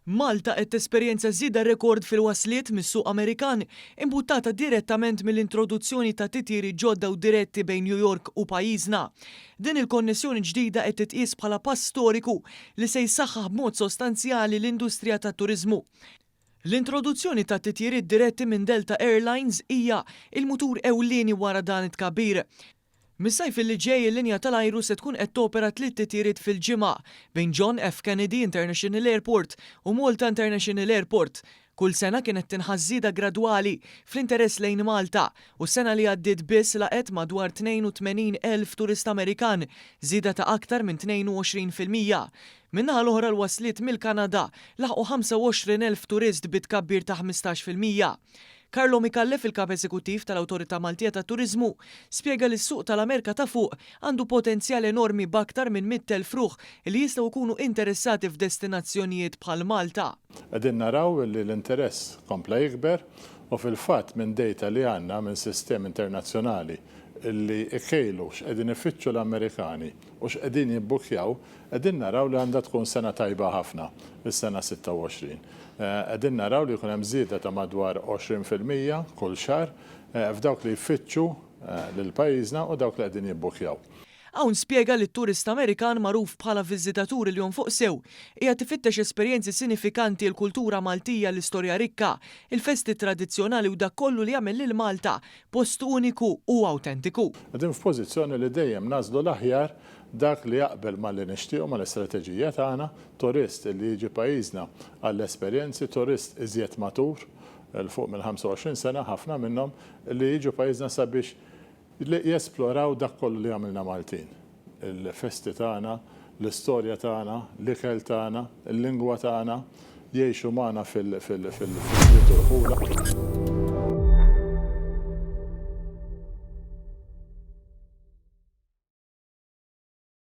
Malta qed tesperjenza żieda rekord fil-wasliet mis-suq Amerikan, imbuttata direttament mill-introduzzjoni ta' titjiri ġodda u diretti bejn New York u pajjiżna. Din il-konnessjoni ġdida qed titqies bħala pass storiku li se jsaħħaħ b'mod sostanzjali l-industrija tat-turiżmu. L-introduzzjoni ta' titjiriet diretti minn Delta Air Lines hija l-mutur ewlieni wara dan it-tkabbir. Mis-sajf li ġej il-linja tal-ajru se tkun qed topera tliet titjiriet fil-ġimgħa bejn John F. Kennedy International Airport u Malta International Airport. Kull sena kienet tinħass żieda gradwali fl-interess lejn Malta u s-sena li għaddiet biss laqgħet madwar 82,000 turist Amerikan, żieda ta' aktar minn 22 fil-mija. Min-naħa l-oħra l-wasliet mill-Kanada laħqu 25,000 turist bi tkabbir ta' 15 fil-mija. Carlo Micallef, il-Kap Eżekuttiv tal-Awtorità Maltija tat-Turiżmu, spjega li s-suq tal-Amerika ta' Fuq għandu potenzjal enormi b'aktar minn 100,000 ruħ li jistgħu jkunu interessati f'destinazzjonijiet bħal Malta. Qegħdin naraw li l-interess kompla jikber u fil-fatt minn dejta li għandna minn sistemi internazzjonali li jkejlu x'qegħdin ifittxu l-Amerikani u x'qegħdin jibbukkjaw, qegħdin naraw li għandha tkun sena tajba ħafna, is-sena 26. Qegħdin naraw li jkun hemm żieda ta' madwar 20 fil-mija kull xahar f'dawk li jfittxu lil pajjiżna u dawk li qegħdin jibbukkjaw. Hawn spjega li t-turist Amerikan magħruf bħala viżitatur il-jom fuq sew, qiegħed ifittex esperjenzi sinifikanti, il-kultura Maltija, l-istorja rikka, il-festi tradizzjonali u dak kollu li jagħmel lil Malta Post uniku u awtentiku. Qegħdin f'pożizzjoni li dejjem nagħżlu l-aħjar, dak li jaqbel ma' li nixtiequ, ma' l-istrateġija tagħna, turist li jiġi pajjiżna għall-esperjenzi, turist iżjed matur, 'l fuq mill-25 sena, ħafna minnhom, li jiġu pajjiżna sabiex li jesploraw dak kollu li għamilna Maltin. Il-festi tagħna, l-istorja tagħna, l-ikel tagħna, il-lingwa tagħna jgħixu magħna fil-ħwienet u l-ħula.